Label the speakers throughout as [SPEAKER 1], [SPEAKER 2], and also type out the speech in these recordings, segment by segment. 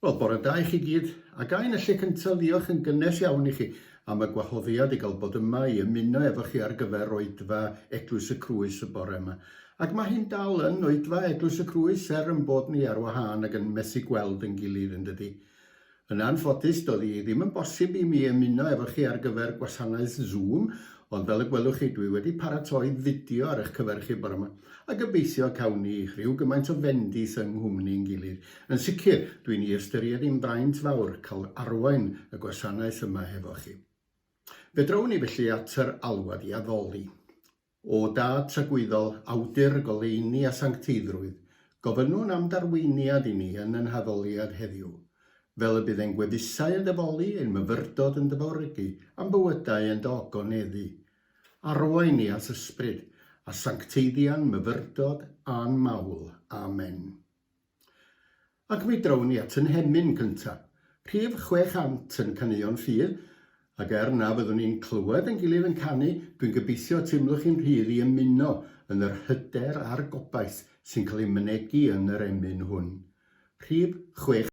[SPEAKER 1] Wel, bore da i chi gyd, a ga i yn y lle cyntaf ddiolch yn gynnes iawn i chi am y gwahoddiad i gael bod yma i ymuno efo chi ar gyfer Oedfa Eglwys y Crwys y bore yma. Ac mae hyn dal yn Oedfa Eglwys y Crwys er yn bod ni ar wahân ac yn methu gweld yn gilydd yn dydi? Yn anffodus doedd hi ddim yn bosib i mi ymuno efo chi ar gyfer gwasanaeth Zoom ond fel y gwelwch chi dwi wedi paratoi fideo ar eich cyfer chi bore yma a gobeithio cawn ni rhyw gymaint o fendith yng nghwmni yn gilydd. Yn sicr, dw i'n ei ystyried hi'n fraint fawr cael arwain y gwasanaeth yma hefo chi. Fedrawn ni felly at yr alwad i addoli. O Dad tragwyddol, Awdur, Goleuni a Sancteiddrwydd, gofynnwn am d'arweiniad i ni yn yn haddoliad heddiw, fel y bydd ein gwefusau yn dyfoli, ein myfyrdod yn dyfawrygu, a'n bywydau yn dogoneddu. Arwain ni at Ysbryd, a sancteiddia'n myfyrdod a'n mawl. Amen. Ac mi drown ni at 'y nhemyn cynta', rhif 600 yn Caneuon Ffydd, ac er na fyddwn ni'n clywed ein gilydd yn canu, dwi'n gobeithio y teimlwch chi'n rhydd i ymuno yn yr hyder a'r gobaith sy'n cael ei mynegi yn yr emyn hwn. Rhif 600.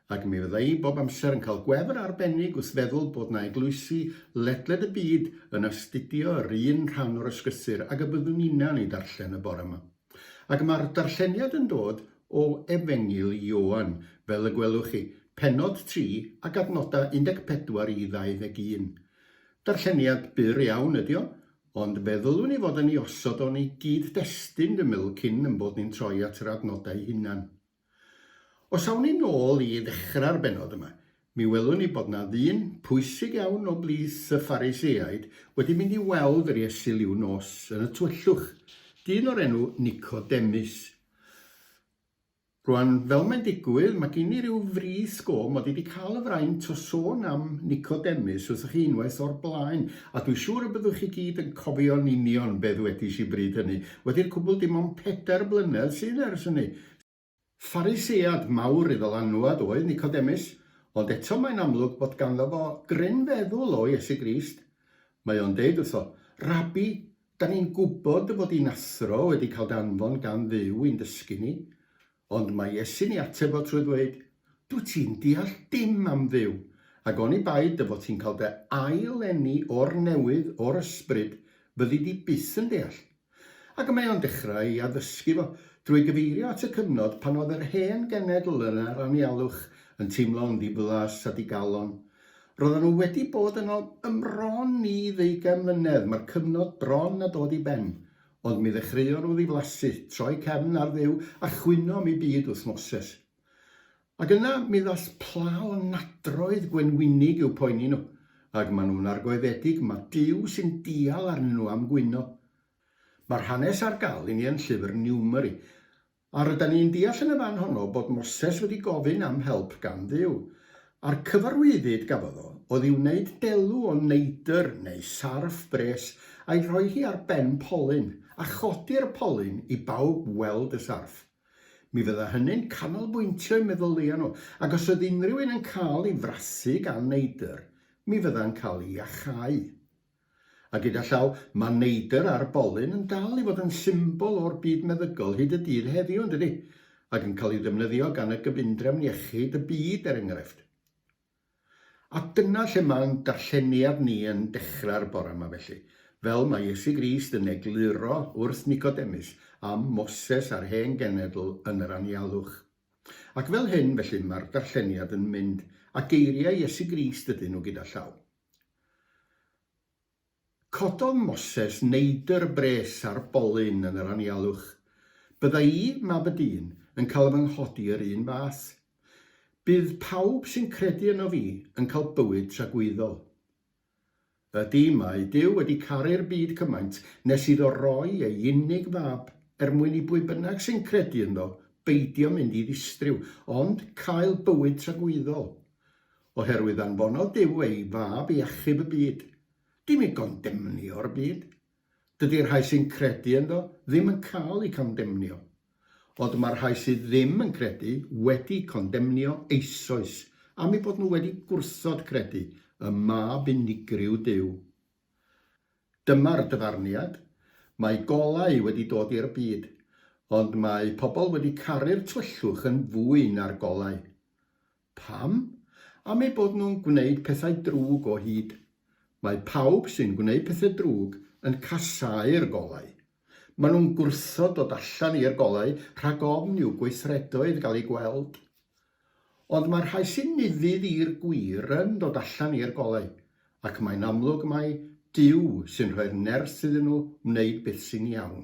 [SPEAKER 1] Ac mi fydda i bob amser yn cael gwefr arbennig wrth feddwl bod 'na eglwysi ledled y byd yn astudio yr un rhan o'r ysgrythur ag y byddwn ninna'n ei darllen y bore 'ma. Ac ma'r darlleniad yn dod o Efengyl Ioan, fel y gwelwch chi, pennod 3 ac adnoda 14 i 21. Darlleniad byr iawn ydi o, ond fe ddylwn i fod yn ei osod o'n ei gyd-destun, dwi'n meddwl, cyn 'yn bod ni'n troi at yr adnoda 'u hunan. Os awn ni'n ôl i ddechrau'r bennod yma, mi welwn ni bod 'na ddyn pwysig iawn o blith y Phariseaid wedi mynd i weld yr Iesu liw nos yn y tywyllwch, dyn o'r enw Nicodemus. Rwan, fel mae'n digwydd, mae gen i ryw frith go mod i wedi cael y fraint o sôn am Nicodemus wrthoch chi unwaith o'r blaen, a dwi siŵr y byddwch chi gyd yn cofio'n union be ddwedis i bryd hynny, wedi'r cwbl dim ond pedair blynedd sydd ers hynny. Pharisead mawr i ddylanwad oedd Nicodemus, ond eto mae'n amlwg bod ganddo fo gryn feddwl o Iesu Grist. Mae o'n deud wrtho, Rabi, da ni'n gwybod dy fod di'n athro wedi cael dy anfon gan Dduw i'n dysgu ni. Ond mae Iesu'n ei ateb o trwy ddweud, Dwyt ti'n deall dim am Dduw, ac oni bai dy fod ti'n cael dy ail-eni o'r newydd o'r ysbryd, fyddi di byth yn deall. Ac y mae o'n dechrau ei addysgu fo, drwy gyfeirio at y cyfnod pan oedd yr hen genedl yn yr anialwch, yn teimlo'n ddiflas a digalon. Roeddan nhw wedi bod yno ym mron i ddeugain mlynedd, mae'r cyfnod bron a dod i ben. Ond mi ddechreuon nhw ddiflasu, troi cefn ar Dduw, a chwyno am eu byd wrth Moses. Ac yna mi ddaeth pla o nadroedd gwenwynig i'w poeni nhw, ac maen nhw'n argoededig ma Duw sy'n dial arnyn nhw am gwyno. Mae'r hanes ar gael i ni yn llyfr Niwmeri, A rydan ni'n deall yn y fan honno bod Moses wedi gofyn am help gan Dduw, a'r cyfarwyddyd gafodd o oedd i wneud delw o neidr neu sarff bres a'i rhoi hi ar ben polyn, a chodi'r polyn i bawb weld y sarff. Mi fydda hynny'n canolbwyntio'u meddylia nhw, ac os oedd unrhyw un yn cael ei frasu gan neidr, mi fydda'n cael ei iachau. A gyda llaw, mae neidr ar bolyn yn dal i fod yn symbol o'r byd meddygol hyd y dydd heddiw, yn dydi? Ac yn cael ei ddefnyddio gan y Gyfundrefn Iechyd y Byd, er enghraifft. A dyna lle mae'n darlleniad ni yn dechrau'r bore yma felly, fel mae Iesu Grist yn egluro wrth Nicodemus am Moses a'r Hen Genedl yn yr anialwch. Ac fel hyn, felly, mae'r darlleniad yn mynd, a geiriau Iesu Grist ydyn nhw gyda llaw. Cododd Moses neidr bres ar bolyn yn yr anialwch. Bydda i, mab y dyn, yn cael fy nghodi yr un fath. Bydd pawb sy'n credu yno fi yn cael bywyd tragwyddol. Ydy, mae Duw wedi caru'r byd cymaint nes iddo roi ei unig fab er mwyn i bwy bynnag sy'n credu ynddo beidio mynd i ddistriw, ond cael bywyd tragwyddol. Oherwydd anfonodd Duw ei Fab i achub y byd, dim i gondemnio'r byd. Dydi'r rhai sy'n credu ynddo ddim yn cael eu condemnio. Ond mae'r rhai sydd ddim yn credu wedi condemnio eisoes am eu bod nhw wedi gwrthod credu ym Mab unigryw Duw. Dyma'r dyfarniad, Mae golau wedi dod i'r byd, ond mae pobl wedi caru'r tywyllwch yn fwy na'r golau. Pam? Am eu bod nhw'n gwneud pethau drwg o hyd. Mae pawb sy'n gwneud pethau drwg yn casáu'r golau. Maen nhw'n gwrthod dod allan i'r golau rhag ofn i'w gweithredoedd gael eu gweld. Ond mae'r rhai sy'n nuddyd i'r gwir yn dod allan i'r golau, ac mae'n amlwg mai Duw sy'n rhoi'r nerth iddyn nhw wneud beth sy'n iawn.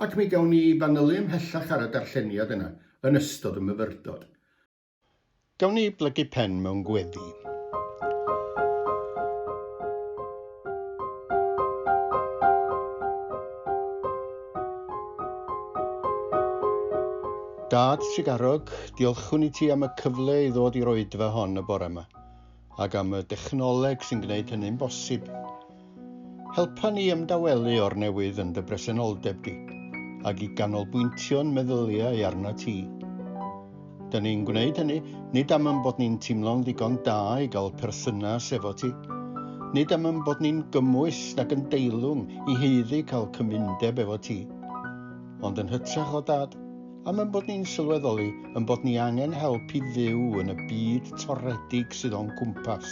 [SPEAKER 1] Ac mi gawn ni fanylu ymhellach ar y darlleniad yna yn ystod y myfyrdod. Gawn ni blygu pen mewn gweddi. Dad Tregarog, diolchwn i ti am y cyfle i ddod i'r oedfa hon y bore 'ma. ac am y dechnoleg sy'n gwneud hynny'n bosib. Helpa ni ymdawelu o'r newydd yn dy bresenoldeb di, ac i ganolbwyntio'n meddyliau arna ti. Dyn ni'n gwneud hynny, nid am yn bod ni'n teimlo'n ddigon da i gael perthynas efo ti, nid am yn bod ni'n gymwys nag yn deilwng i heiddi cael cymundeb efo ti, ond yn hytrach o dad, Am ein bod ni'n sylweddoli ein bod ni angen help i fyw yn y byd toredig sydd o'n cwmpas.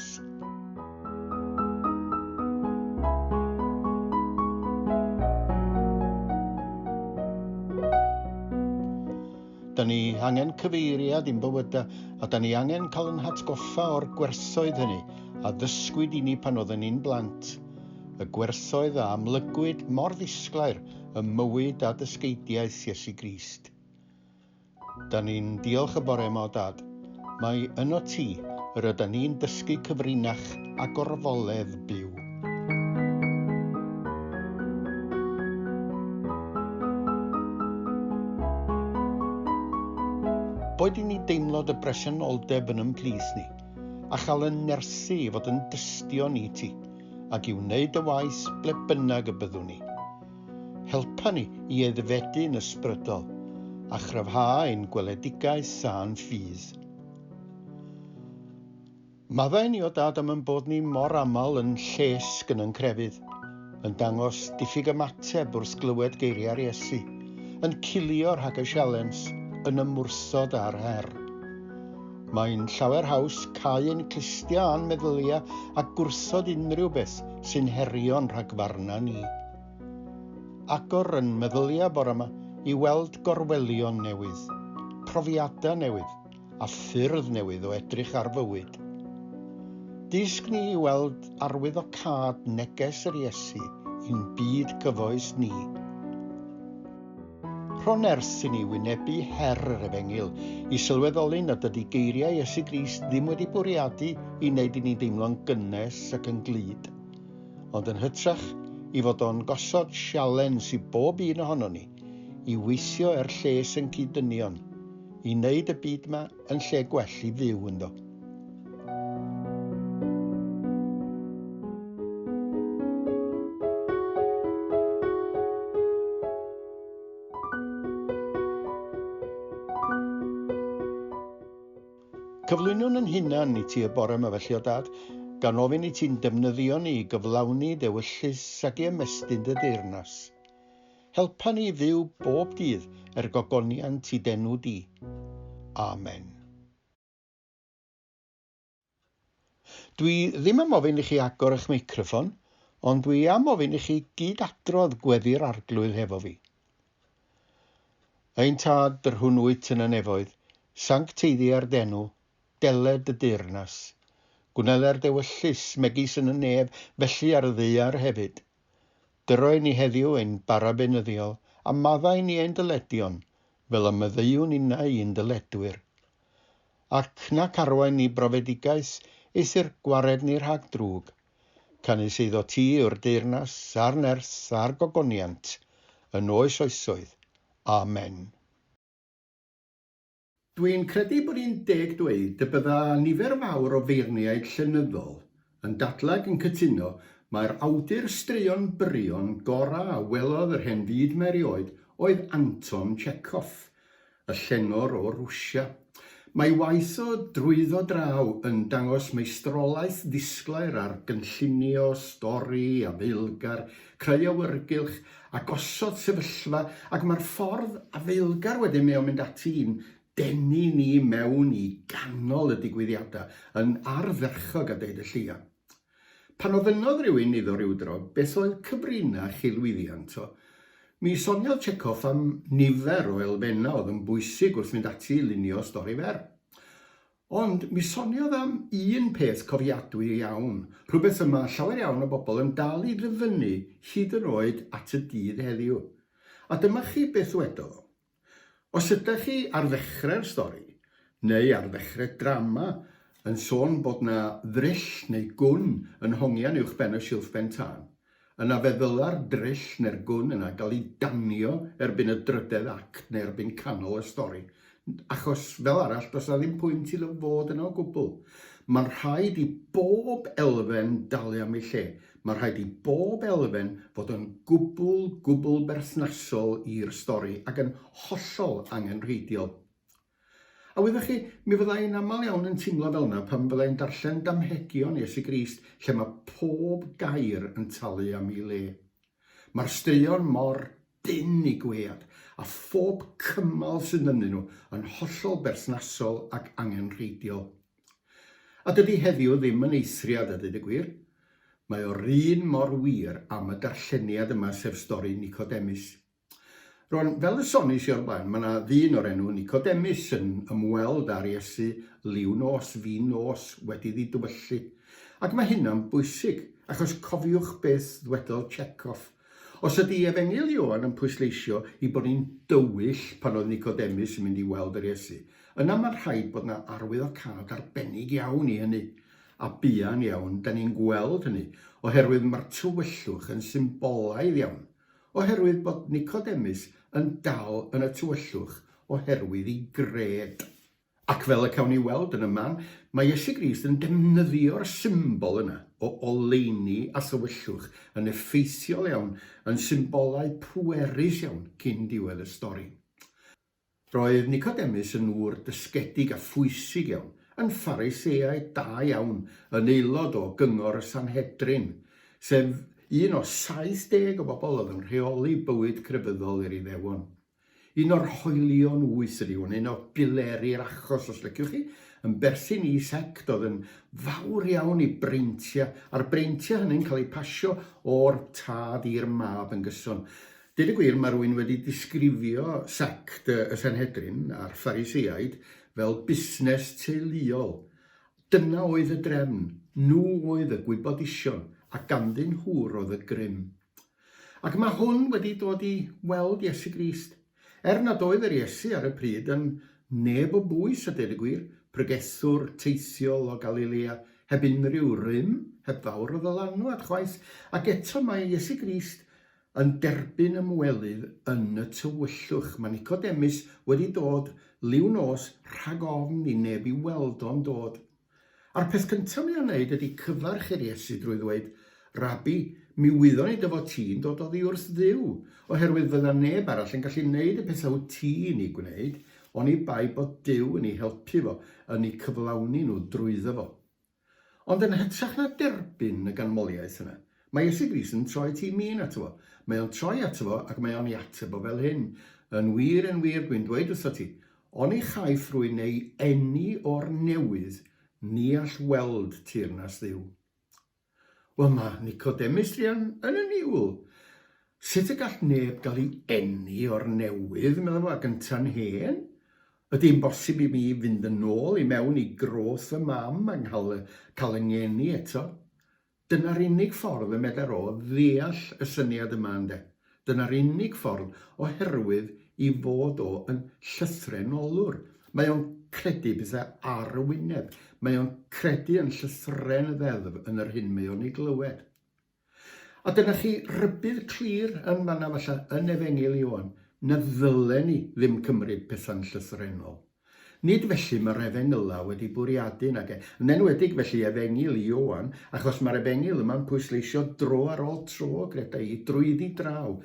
[SPEAKER 1] Da ni angen cyfeiriad i'n bywydau a da ni angen cael yn hatgoffa o'r gwerthoedd hynny a ddysgwyd i ni pan oedden ni'n blant. Y gwerthoedd a amlygwyd mor ddisglair ym mywyd a dysgeidiaeth Iesu Grist. Da ni'n diolch y bore yma o Dad, mae yno ti yr yda ni'n dysgu cyfrinach a gorfoledd byw. Boed i ni deimlo dy bresenoldeb yn ymplith ni, a chael yn nerthu i fod yn dystion i ti, ac i wneud y waith ble bynnag y byddwn ni. Helpa ni i aeddfedu'n ysbrydol a chryfhau ein gweledigaeth a'n ffydd. Maddau ni o Dad am yn bod ni mor aml yn llesg yn yn crefydd, yn dangos diffyg ymateb wrth glywed geiriau'r Iesu, yn cilio rhag y sialens, yn ymwrthod â'r her. Mae'n llawer haws cau ein clustia a'n meddylia a gwrthod unrhyw beth sy'n herio'n rhagfarna ni. Agor yn meddylia bore yma i weld gorwelion newydd, profiadau newydd a ffyrdd newydd o edrych ar fywyd. Dysg ni i weld arwyddocâd neges yr Iesu i'n byd cyfoes ni. Rhon ers i ni wynebu her yr Efengyl i sylweddoli nad ydy geiriau Iesu Grist ddim wedi bwriadu i wneud i ni deimlo'n gynnes ac yn glyd, ond yn hytrach i fod o'n gosod sialens i bob un ohonon ni i weithio er lles yn cyd-dynion, i wneud y byd 'ma yn lle gwell i fyw ynddo. Cyflwynwn yn hunan i ti y bore yma felly o dad, gan ofyn i ti'n defnyddio ni i gyflawni dewyllus ag i ymestyn dy deyrnas. Helpa ni i fyw bob dydd er gogoniant i d'enw di. Amen. Dwi ddim am ofyn i chi agor eich meicroffon, ond dwi am ofyn i chi gyd adrodd gweddi'r arglwydd hefo fi. Ein tad, yr hwn wyt yn y nefoedd, sancteiddia'r denw, deled y deyrnas. Gwneler dewyllus, megis yn y nef, felly ar y ddeiar hefyd. Dyrroi ni heddiw ein bara beunyddiol, a maddau ni ein dyledion, fel y meddeuwn innau i'n dyledwyr. Ac na carwain ni brofedigaeth is i'r gwared ni rhag drwg, canys eiddo ti yw'r deyrnas, a'r nerth, a'r gogoniant, yn oes oesoedd. Amen. Dwi'n credu bod hi'n deg dweud y bydda nifer fawr o feirniaid llenyddol yn dadlau yn cytuno mai'r awdur straeon byrion gorau a welodd yr hen fyd mae erioed oedd Anton Tchekhov, y llenor o Rwsia. Mae waith o drwyddo draw yn dangos meistrolaeth ddisglair ar gynllunio stori a feilgar creu awyrgylch a gosod sefyllfa ac mae'r ffordd afeilgar wedyn mae o'n mynd ati i'n denu ni mewn i ganol y digwyddiadau yn ardderchog a deud y lleia. Pan ofynnodd rhywun iddo rywdro beth oedd cyfrinach chi lwyddiant o, mi soniodd Chekhov am nifer o elfennau oedd yn bwysig wrth fynd ati i lunio stori fer. Ond mi soniodd am un peth cofiadwy iawn, rhywbeth y mae llawer iawn o bobl yn dal i ddyfynnu hyd yn oed at y dydd heddiw. A dyma chi beth ddwedodd o, Os ydach chi ar ddechrau'r stori, neu ar ddechrau drama, yn sôn bod 'na ddryll neu gwn yn hongian uwchben y silff ben tân, Yna fe ddyla'r dryll neu'r gwn yna gael ei danio erbyn y drydedd act neu erbyn canol y stori, achos, fel arall, does 'na ddim pwynt iddo fod yna o gwbl. Mae'n rhaid i bob elfen dalu am ei lle. Mae'n rhaid i bob elfen fod yn gwbl, gwbl berthnasol i'r stori ac yn hollol angenrheidiol. A wyddoch chi, mi fydda i'n aml iawn yn teimlo fel yna pan fydda i'n darllen damhegion Iesu Grist lle mae pob gair yn talu am ei le. Mae'r straeon mor dynn i gwead, a phob cymal sydd ynddyn nhw yn hollol berthnasol ac angenrheidiol. A dydy heddiw ddim yn eithriad a dweud y gwir. Mae o'r un mor wir am y darlleniad yma sef stori Nicodemus. Rwan, fel y sonis i o'r blaen, mae yna ddyn o'r enw Nicodemus yn ymweld â'r Iesu liw nos, fin nos, wedi iddi dywyllu. Ac mae hynna'n bwysig, achos cofiwch beth ddwedodd Chekhov. Os ydy Efengyl Ioan yn pwysleisio i bod ni'n dywyll pan oedd Nicodemus yn mynd i weld yr Iesu, yna mae'n rhaid bod yna arwyddocâd arbennig iawn i hynny. A buan iawn, da ni'n gweld hynny, oherwydd mae'r tywyllwch yn symbolaidd iawn. Oherwydd bod Nicodemus yn dal yn y tywyllwch oherwydd ei gred. Ac fel y cawn ni weld yn y man, mae Iesu Grist yn defnyddio'r symbol yna o oleuni a thywyllwch yn effeithiol iawn yn symbolau pwerus iawn cyn diwedd y stori. Roedd Nicodemus yn ŵr dysgedig a phwysig iawn, yn Phariseaid da iawn, yn aelod o Gyngor y Sanhedrin, sef un o 70 o bobl oedd yn rheoli bywyd crefyddol i'r Iddewon. Un o'r hoelion wyth ydy hwn, un o bileri'r achos os liciwch chi, yn berthyn i sect oedd yn fawr iawn i breintiau, a'r breintiau hynny'n cael eu pasio o'r tad i'r mab yn gyson. Deud y gwir, mae rhywun wedi disgrifio sect y Senhedrin a'r Ffariseiaid fel busnes teuluol. Dyna oedd y drefn, nhw oedd y gwybodusion, a ganddyn nhw roedd y grym. Ac mae hwn wedi dod i weld Iesu Grist. Er nad oedd yr Iesu ar y pryd yn neb o bwys a deud y gwir, pregethwr teithiol o Galilea, heb unrhyw rym, heb fawr o ddylanwad chwaith, ac eto mae Iesu Grist yn derbyn ymwelydd yn y tywyllwch. Mae Nicodemus wedi dod liw nos rhag ofn i neb i weld o'n dod. A'r peth cyntaf mae o'n neud ydy cyfarch i'r Iesu drwy ddweud, Rabi, mi wyddon i dy fod ti'n dod oddi wrth Dduw, oherwydd fydda neb arall yn gallu neud y pethau wt ti'n i gwneud, oni bai bod Duw yn i helpu fo, yn i cyflawni nhw drwyddo fo. Ond yn hytrach na derbyn y ganmoliaeth yna, mae Iesu Grist yn troi ti min ato fo. Mae o'n troi ato fo ac mae o'n ei ateb o fel hyn, Yn wir, yn wir, dwi'n dweud wrthot ti, oni chaiff rwy'n ei eni o'r newydd, ni all weld teyrnas Dduw. Wel, mae Nicodemus druan yn y niwl. Sut y gall neb gael ei eni o'r newydd, meddai fo, a gynta'n hen? Ydi'n bosib i mi fynd yn ôl i mewn i grôs fy mam a nghael y cael y ngeni eto? Dyna'r unig ffordd y medar o ddeall y syniad yma ynde? Dyna'r unig ffordd oherwydd i fod o yn llythrenolwr. Mae o'n credu petha ar y wyneb. Mae o'n credu yn llythren y ddeddf yn yr hyn mae o'n ei glywed. A dyna chi rybudd clir yn fan'na falla yn Efengyl Ioan, na ddylen ni ddim cymryd pethau'n llythrennol. Nid felly mae'r Efengylau wedi bwriadu, nag e? Yn enwedig felly Efengyl Ioan, achos mae'r Efengyl yma'n pwysleisio dro ar ôl tro, greda i, drwyddi draw,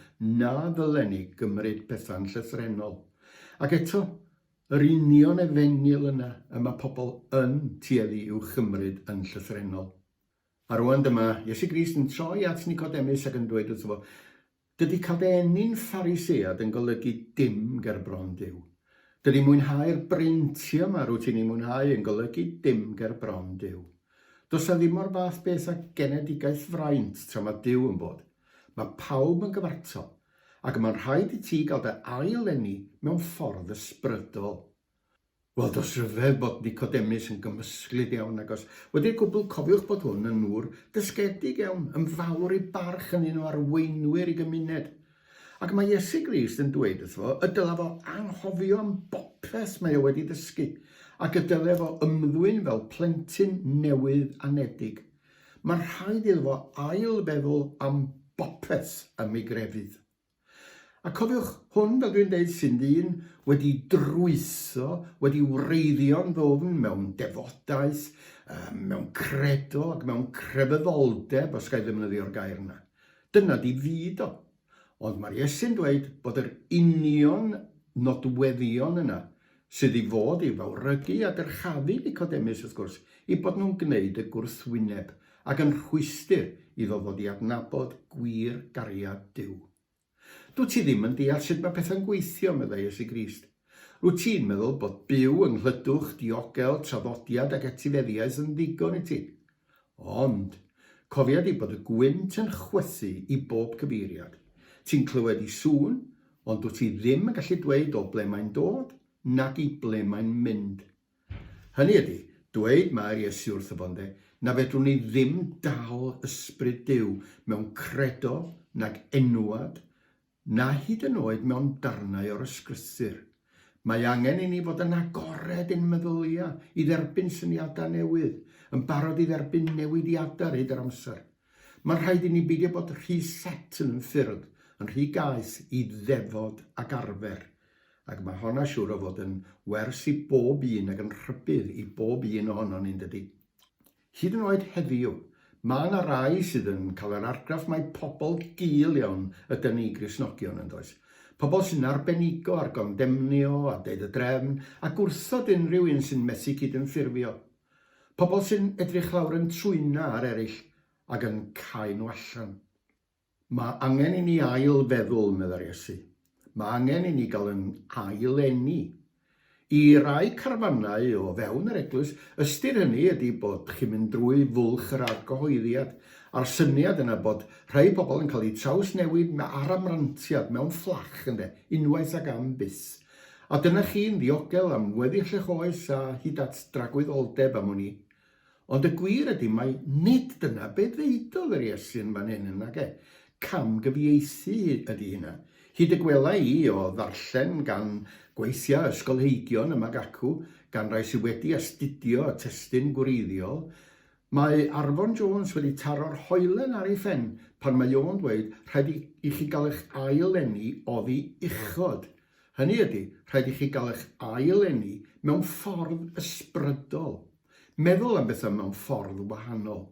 [SPEAKER 1] na ddylen ni gymryd pethau'n llythrennol. Ac eto, yr union Efengyl yna y mae pobl yn tueddu i'w chymryd yn llythrennol. A rŵan dyma Iesu Grist yn troi at Nicodemus ac yn dweud wrtho fo, Dydy cael dy eni'n Pharisead yn golygu dim ger bron Duw. Dydy mwynhau'r breintiau yma rwyt ti'n eu mwynhau yn golygu dim ger bron Duw. Does 'na ddim o'r fath beth â genedigaeth fraint tra mae Duw yn bod. Mae pawb yn gyfartal. Ac y mae'n rhaid i ti gael dy ail-eni mewn ffordd ysbrydol. Wel, does rhyfedd bod Nicodemus yn gymysglyd iawn ag os wedi'r cwbl cofiwch bod hwn yn nŵr dysgedig iawn, yn fawr ei barch yn un o arweinwyr ei gymuned. Ac mae Iesu Grist yn dweud wrtho y dylaf o anghofio am bopeth mae o wedi ddysgu, ac y dylef o ymddwyn fel plentyn newydd anedig. Mae'n rhaid iddo fo ail-feddwl am bopeth ym ei grefydd. A cofiwch hwn, fel dwi'n deud, sy'n ddyn wedi drwyso, wedi wreiddio'n ddwfn mewn defodaeth, mewn credo ac mewn crefyddoldeb, os gael ddefnyddio'r gair yna. Dyna di fyd o. Ond mae'r Iesu'n dweud bod yr union nodweddion yna sydd i fod i fawrhygu a dyrchafu Nicodemus, wrth gwrs, eu bod nhw'n gwneud y gwrthwyneb ac yn rhwystr iddo ddod i adnabod gwir gariad Duw. Dwyt ti ddim yn deall sut mae pethau'n gweithio, meddai Iesu Grist. Rwyt ti'n meddwl bod byw yng nghlydwch, diogel, traddodiad ac etifeddiaeth yn ddigon i ti. Ond, cofia di bod y gwynt yn chwythu i bob cyfeiriad. Ti'n clywed i sŵn, ond dwt ti ddim yn gallu dweud o ble mae'n dod, nag i ble mae'n mynd. Hynny ydi, dweud mae Iesu wrtho fo, ynde, na fedrwn ni ddim dal Ysbryd Duw mewn credo nag enwad na hyd yn oed mewn darnau o'r ysgrythur. Mae angen i ni fod yn agored i'n meddylia, i dderbyn syniadau newydd, yn barod i dderbyn newidiadau ar hyd yr amser. Mae'n rhaid i ni beidio bod rhy set yn yn ffyrdd, yn rhy gaeth i ddefod ac arfer, ac mae hon a siŵr o fod yn wers i bob un ac yn rhybudd i bob un ohonon ni, yn dydi? Hyd yn oed heddiw, mae yna rai sydd yn cael yr argraff mai pobl gul iawn ydyn ni, Gristnogion, yn does? Pobl sy'n arbenigo ar gondemnio a deud y drefn a gwrthod unrhyw un sy'n methu cydymffurfio. Pobl sy'n edrych lawr yn trwyna ar eraill ac yn cau nhw allan. Mae angen i ni ail feddwl, meddai'r Iesu. Mae angen i ni gael yn ail eni. I rai carfanau o fewn yr Eglwys, ystyr hynny ydy bod chi'n mynd drwy fwlch yr argyhoeddiad, a'r syniad yna bod rhai pobl yn cael eu trawsnewid ar amrantiad mewn fflach, ynde, unwaith ac am byth. A dyna chi'n ddiogel am weddill eich oes a hyd at dragwyddoldeb am wn i. Ond y gwir ydy mai nid dyna be ddeudodd yr Iesu yn fan hyn, nage? Camgyfieithu ydy hynna. Hyd y gwela i, o ddarllen gan gweithia ysgolheigion yma ac acw, gan rai sy wedi astudio y testun gwreiddiol, mae Arfon Jones wedi taro'r hoelen ar ei phen pan mae o'n dweud rhaid i i chi gael eich ail-eni oddi uchod. Hynny ydy, rhaid i chi gael eich ail-eni mewn ffordd ysbrydol. Meddwl am bethau mewn ffordd wahanol,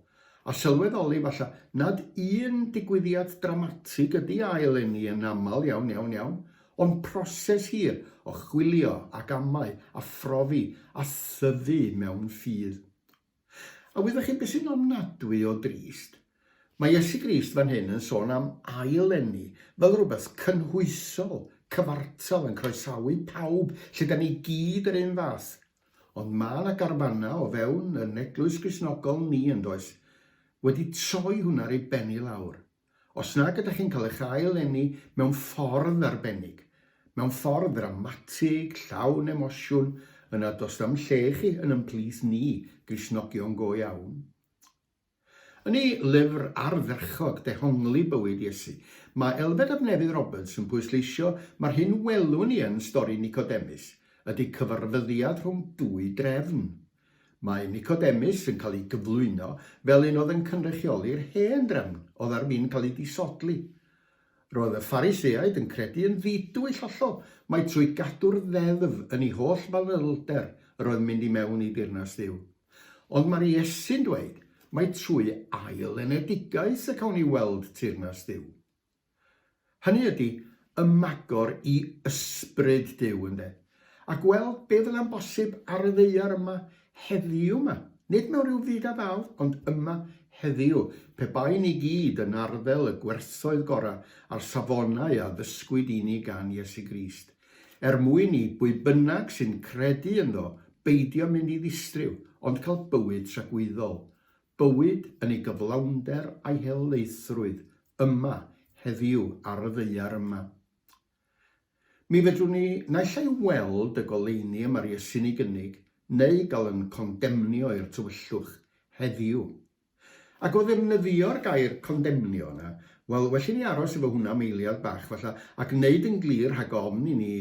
[SPEAKER 1] a sylweddoli falle nad un digwyddiad dramatig ydy ail eni yn aml iawn, iawn, iawn, ond proses hir o chwilio ac amau a phrofi a thyfu mewn ffydd. A wyddoch chi beth sy'n ofnadwy o drist? Mae Iesu Grist fan hyn yn sôn am ail eni fel rhywbeth cynhwysol, cyfartal yn croesawu pawb, lle da ni gyd yr un fath, Ond mae 'na garfanna o fewn yn Eglwys Gristnogol ni yn does? Wedi troi hwnna ar ei ben i lawr. Os nag ydych chi'n cael eich ail eni mewn ffordd arbennig, mewn ffordd ddramatig, llawn emosiwn, yna does na'm lle i chi yn yn plith ni, Gristnogion go iawn. Yn ei lyfr ardderchog, Dehongli Bywyd Iesu, mae Elfed ab Nefydd Roberts yn pwysleisio mai'r hyn welwn ni yn stori Nicodemus ydy cyfarfyddiad rhwng dwy drefn. Mae Nicodemus yn cael ei gyflwyno fel un oedd yn cynrychioli'r hen drefn oedd ar fin cael ei disodli, Roedd y Phariseaid yn credu yn ddidwyll hollol mai trwy gadw'r ddeddf yn ei holl fanylder yr oedd mynd i mewn i deyrnas Dduw. Ond mae'r Iesu'n dweud mai trwy ail-enedigaeth y cawn ni weld teyrnas Dduw. Hynny ydy, ymagor i Ysbryd Duw, ynde? A gweld be fydda'n bosib ar y ddaear yma heddiw 'ma. Nid mewn rhyw fyd a ddaw, ond yma heddiw, pe baen ni gyd yn arddel y gwerthoedd gorau a'r safonau a ddysgwyd i ni gan Iesu Grist, er mwyn i bwy bynnag sy'n credu ynddo beidio mynd i ddistryw, ond cael bywyd tragwyddol. Bywyd yn ei gyflawnder a'i helaethrwydd, yma heddiw ar y ddaear yma. Mi fedrwn ni naill ai weld y goleuni y mae'r Iesu'n ei gynnig, neu gael yn condemnio i'r tywyllwch, heddiw. Ac o ddefnyddio'r gair 'condemnio' yna, wel, well i ni aros efo hwnna am eiliad bach, falla, ac wneud yn glir rhag ofn i ni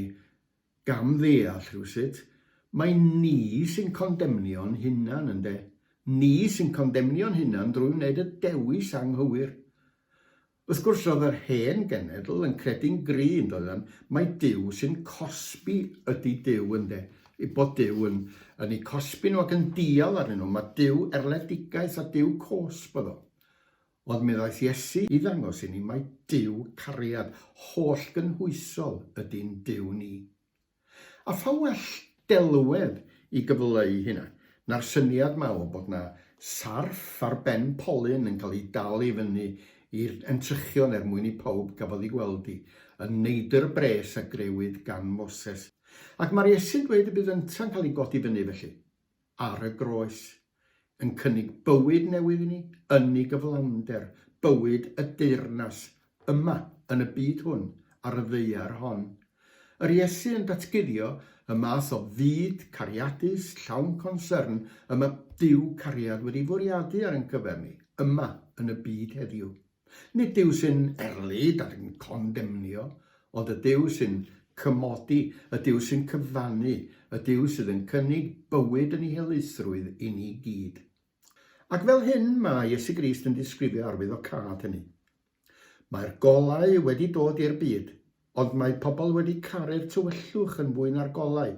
[SPEAKER 1] gam-ddeall rhywsut, mai ni sy'n condemnio'n hunan, ynde? Ni sy'n condemnio'n hunan drwy wneud y dewis anghywir. Wrth gwrs roedd yr hen genedl yn credu'n gry' yn doeddan mai Duw sy'n cosbi ydi Duw ynde? eu bod Duw yn yn eu cosbi nhw ac yn dial arnyn nhw, mae Duw erledigaeth a Duw cosb oedd o. Ond mi ddaeth Iesu i ddangos i ni mai Duw cariad, hollgynhwysol ydi'n Duw ni. A pha well delwedd i gyfleu hynna na'r syniad 'ma o bod 'na sarff ar ben polyn yn cael ei dal i fyny i'r entrychion er mwyn i pawb gafodd ei gweld hi, yn neidr bres a grëwyd gan Moses. Ac mae'r Iesu'n dweud y bydd ynta'n cael ei godi fyny felly. ar y groes, yn cynnig bywyd newydd i ni, yn ei gyflawnder, bywyd y deyrnas, yma, yn y byd hwn, ar y ddaear hon. Yr Iesu yn datguddio y math o fyd cariadus, llawn consyrn, y mae Duw cariad wedi fwriadu ar ein cyfer ni, yma, yn y byd heddiw. Nid Duw sy'n erlid ac yn condemnio, ond y Duw sy'n cymodi, y Duw sy'n cyfannu, y Duw sydd yn cynnig bywyd yn ei helaethrwydd i ni gyd. Ac fel hyn mae Iesu Grist yn disgrifio arwyddocâd hynny. Mae'r golau wedi dod i'r byd, Ond mae pobl wedi caru'r tywyllwch yn fwy na'r golau.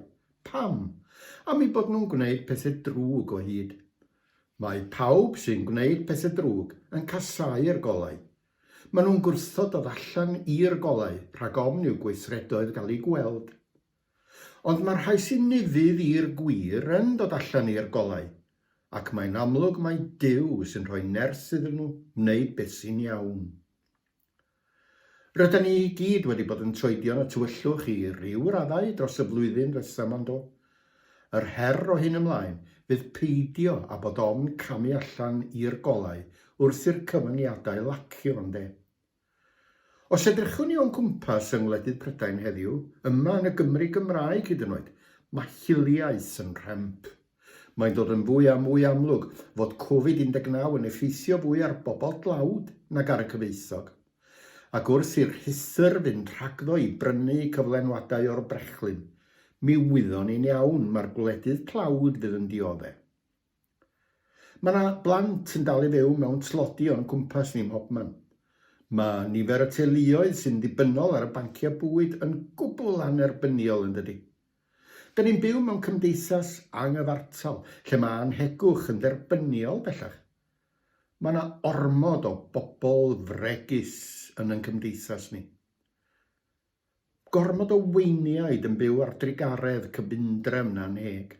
[SPEAKER 1] Pam? Am eu bod nhw'n gwneud pethau drwg o hyd. Mae pawb sy'n gwneud pethau drwg yn casáu'r golau. Maen nhw'n gwrthod dod allan i'r golau rhag ofn i'w gweithredoedd gael eu gweld. Ond mae'r rhai sy'n nifydd i'r gwir yn dod allan i'r golau, ac mae'n amlwg mai Duw sy'n rhoi nerth iddyn nhw wneud beth sy'n iawn. Rydan ni i gyd wedi bod yn troedio y tywyllwch i ryw raddau dros y flwyddyn resymol yn do? Yr her o hyn ymlaen fydd peidio â bod ofn camu allan i'r golau wrth i'r cyfyngiadau lacio yn de? Os edrychwn ni o'n cwmpas yng ngwledydd Prydain heddiw, yma yn y Gymru Gymraeg hyd yn oed, mae hiliaeth yn rhemp. Mae'n dod yn fwy a mwy amlwg fod Covid 19 yn effeithio fwy ar bobl dlawd nag ar y cyfoethog, ac wrth i'r rhuthr fynd rhagddo i brynu cyflenwadau o'r brechlyn, mi wyddon ni'n iawn mai'r gwledydd tlawd fydd yn diodde'. Mae 'na blant yn dal i fyw mewn tlodi o'n cwmpas ni mhobman. Mae nifer y teuluoedd sy'n ddibynnol ar y banciau bwyd yn gwbl annerbyniol yndydi? Dyn ni'n byw mewn cymdeithas anghyfartal lle mae annhegwch yn dderbyniol bellach. Mae yna ormod o bobl fregus yn yn cymdeithas ni. Gormod o weiniaid yn byw ar drugaredd cyfundrefn annheg.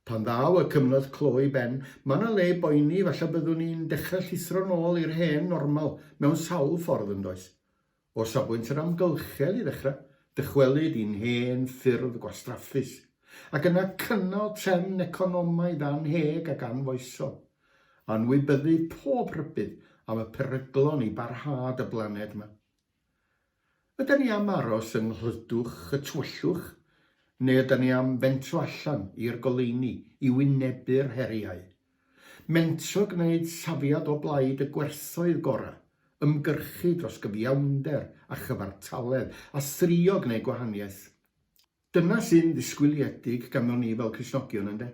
[SPEAKER 1] Pan ddaw y cyfnod clo i ben, mae yna le i boeni, falle byddwn ni'n dechrau llithro'n ôl i'r hen normal mewn sawl ffordd, yn does? O safbwynt yr amgylchedd i ddechrau, dychwelyd i'n hen ffyrdd gwastraffus, ac yna cynnal trefn economaidd annheg ac anfoesol, anwybyddu pob rhybudd am y peryglon i barhad y blaned yma. Ydan ni am aros yng nghlydwch y tywyllwch, neu ydan ni am fentro allan i'r goleuni i wynebu'r heriau Mentro gwneud safiad o blaid y gwerthoedd gorau, ymgyrchu dros gyfiawnder a chyfartaledd, a thrio gwneud gwahaniaeth. Dyna sy'n ddisgwyliedig ganddo ni fel Cristnogion, ynde?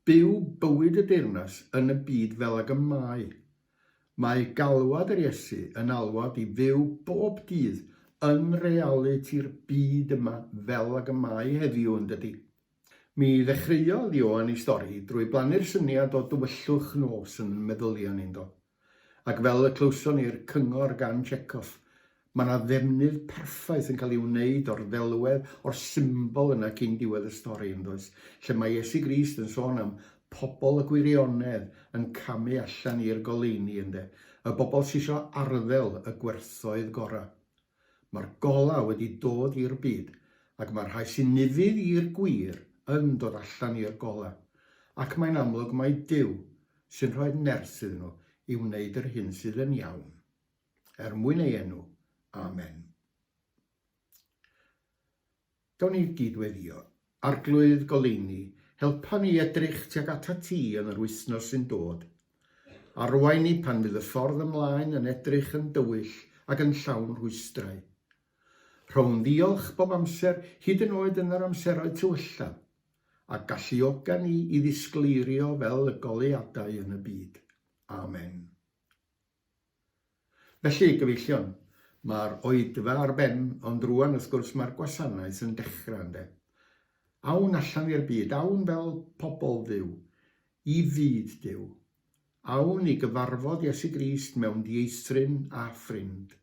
[SPEAKER 1] Byw bywyd y deyrnas yn y byd fel ag y mae. Mae galwad yr Iesu yn alwad i fyw bob dydd yn realiti'r byd yma fel ag y mae heddiw, yn dydi? Mi ddechreuodd Ioan ei stori drwy blannu'r syniad o dywyllwch nos yn meddylion ynddo. Ac fel y clywson ni'r cyngor gan Chekhov, mae 'na ddefnydd perffaith yn cael ei wneud o'r ddelwedd, o'r symbol yna cyn diwedd y stori, yn does? Lle mae Iesu Grist yn sôn am pobl y gwirionedd yn camu allan i'r goleuni, ynde? Y bobl sy isio arddel y gwerthoedd gorau. Mae'r golau wedi dod i'r byd ac mae'r rhai sy'n nifydd i'r gwir yn dod allan i'r golau, ac mae'n amlwg mai Duw sy'n rhoi'r nerth iddyn nhw i wneud yr hyn sydd yn iawn, er mwyn ei enw. Amen. Gawn ni gyd-weddïo. Arglwydd goleuni, helpa ni i edrych tuag atat ti yn yr wythnos sy'n dod. Arwain ni pan fydd y ffordd ymlaen yn edrych yn dywyll ac yn llawn rhwystrau. Rhown ddiolch bob amser, hyd yn oed yn yr amseroedd tywyllaf, a galluoga ni i ddisgleirio fel y goleuadau yn y byd. Amen. Felly, gyfeillion, mae'r oedfa ar ben, ond rŵan, wrth gwrs, mae'r gwasanaeth yn dechrau, ynde? Awn allan i'r byd, awn fel pobl Dduw, i fyd Duw. Awn i gyfarfod Iesu Grist mewn dieithryn a ffrind.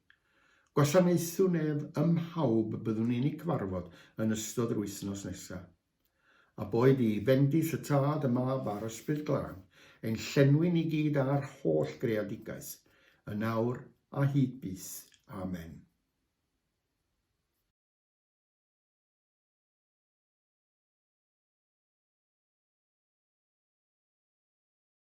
[SPEAKER 1] Gwasanaethwn ef ym mhawb byddwn ni'n eu cyfarfod yn ystod yr wythnos nesaf. A boed i fendith y tad, y mab a'r Ysbryd Glân, ein llenwi ni gyd â'r holl greadigaeth, yn awr a hyd byth. Amen.